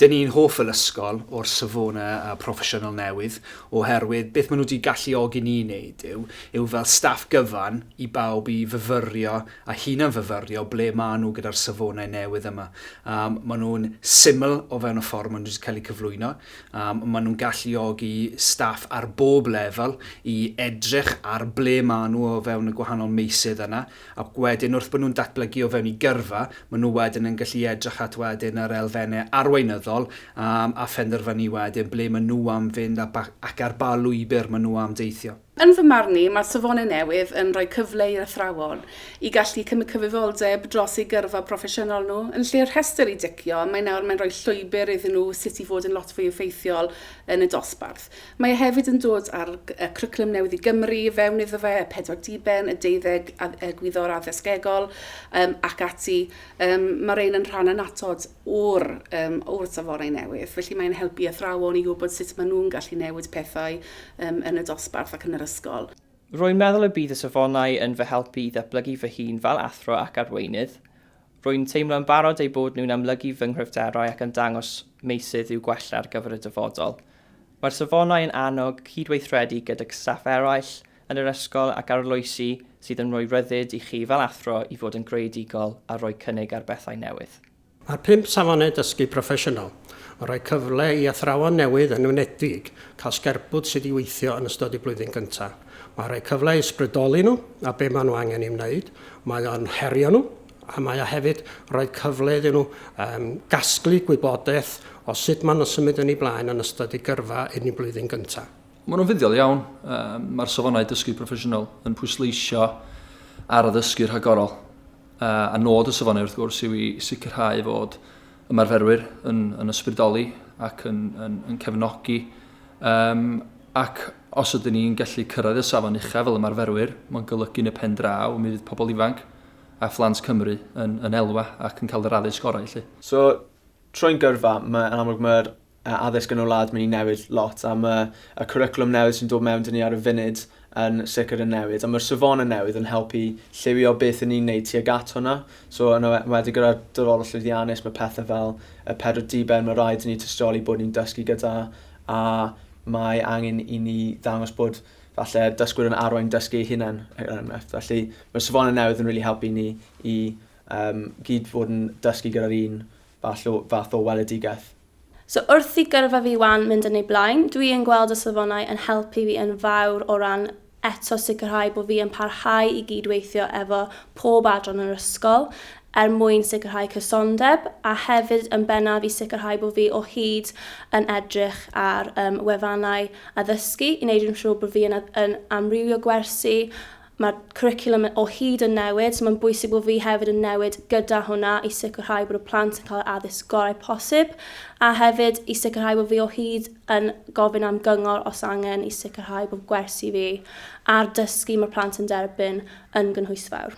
Dyn ni'n hoff fel ysgol o'r safonau a proffesiynol newydd oherwydd beth maen nhw wedi galluogi ni i wneud yw, yw fel staff gyfan i bawb i fyfyrio a hunan-fyfyrio ble maen nhw gyda'r safonau newydd yma. Maen nhw'n syml o fewn y ffordd maen nhw wedi cael eu cyflwyno. a maen nhw'n galluogi staff ar bob lefel i edrych ar ble maen nhw o fewn y gwahanol meysydd yna, ac wedyn wrth bod nhw'n datblygu o fewn i gyrfa, maen nhw wedyn yn gallu edrych at wedyn yr elfennau arweinyddol a phenderfynu wedyn ble maen nhw am fynd ac ar ba lwybr maen nhw am deithio. Yn fy marn i, mae'r safonau newydd yn rhoi cyfle i'r athrawon i gallu cymryd cyfrifoldeb dros eu gyrfa proffesiynol nhw. Yn lle'r rhestr i dicio, mae nawr mae'n rhoi llwybr iddyn nhw sut i fod yn lot fwy effeithiol yn y dosbarth. Mae e hefyd yn dod â'r Cwricwlwm Newydd i Gymru i fewn iddo fe, y pedwar diben, y deuddeg Egwyddor Addysgegol, ac ati. Mae'r rhain yn rhan annatod. o'r um, wrth y fore newydd. Felly mae'n helpu athrawon i gwybod sut maen nhw'n gallu newid pethau um, yn y dosbarth ac yn yr ysgol. Rwy'n meddwl y bydd y safonau yn fy helpu i ddatblygu fy hun fel athro ac arweinydd. Rwy'n teimlo yn barod eu bod nhw'n amlygu fy nghryfderau ac yn dangos meysydd i'w gwella ar gyfer y dyfodol. Mae'r safonau yn annog cydweithredu gydag staff eraill yn yr ysgol ac arloesi sydd yn rhoi rhyddid i chi fel athro i fod yn greadigol a rhoi cynnig ar bethau newydd. Mae pump safonau dysgu proffesiynol yn rhoi cyfle i athrawon newydd yn enwedig cael sgerbwd sut i weithio yn ystod eu blwyddyn gyntaf. Mae'n rhoi cyfle i ysbrydoli nhw a be maen nhw angen ei wneud, mae o'n herio nhw a mae o hefyd rhoi cyfle iddyn nhw um, gasglu gwybodaeth o sut maen nhw'n symud yn ei blaen yn ystod eu gyrfa yn eu blwyddyn gyntaf. Maen nhw'n fuddiol iawn. Mae'r safonau dysgu proffesiynol yn pwysleisio ar addysgu rhagorol. A nod y safonau wrth gwrs yw i sicrhau fod ymarferwyr yn, yn ysbrydoli ac yn, yn, yn cefnogi um, Ac os ydyn ni'n gallu cyrraedd y safon uchaf fel ymarferwyr, mae'n golygu yn y pen draw mi fydd pobl ifanc a phlant Cymru yn, yn elwa ac yn cael yr addysg orau, lle. So, troi'n gyrfa, mae'n amlwg mae'r a addysg yn y wlad mynd i newid lot a mae y cwricwlwm newydd sy'n dod mewn dyn ni ar y funud yn sicr yn newid a mae'r safonau newydd yn helpu lliwio beth yn ni'n neud tuag at hwnna so yn wedi gyda'r dyfodol llwyddiannus mae pethau fel y pedwar diben mae rhaid i ni tystioli bod ni'n dysgu gyda a mae angen i ni ddangos bod falle dysgwyr yn arwain dysgu ei hunain er enghraifft. Felly mae'r safonau newydd yn rili really helpu ni i um, gyd fod yn dysgu gyda'r un fath o fath o weledigaeth. So wrth i gyrfa fi wan mynd yn ei blaen, dwi yn gweld y safonau yn helpu fi yn fawr o ran eto sicrhau bod fi yn parhau i gyd-weithio efo pob adran yr ysgol er mwyn sicrhau cysondeb a hefyd yn bennaf i sicrhau bod fi o hyd yn edrych ar um, wefannau addysgu i wneud yn siŵr bod fi yn, yn amrywio gwersi Mae'r cwricwlwm o hyd yn newid, so mae'n bwysig bod fi hefyd yn newid gyda hwnna i sicrhau bod y plant yn cael yr addysg gorau posib, a hefyd i sicrhau bod fi o hyd yn gofyn am gyngor os angen i sicrhau bod gwersi fi a'r dysgu mae'r plant yn derbyn yn gynhwysfawr.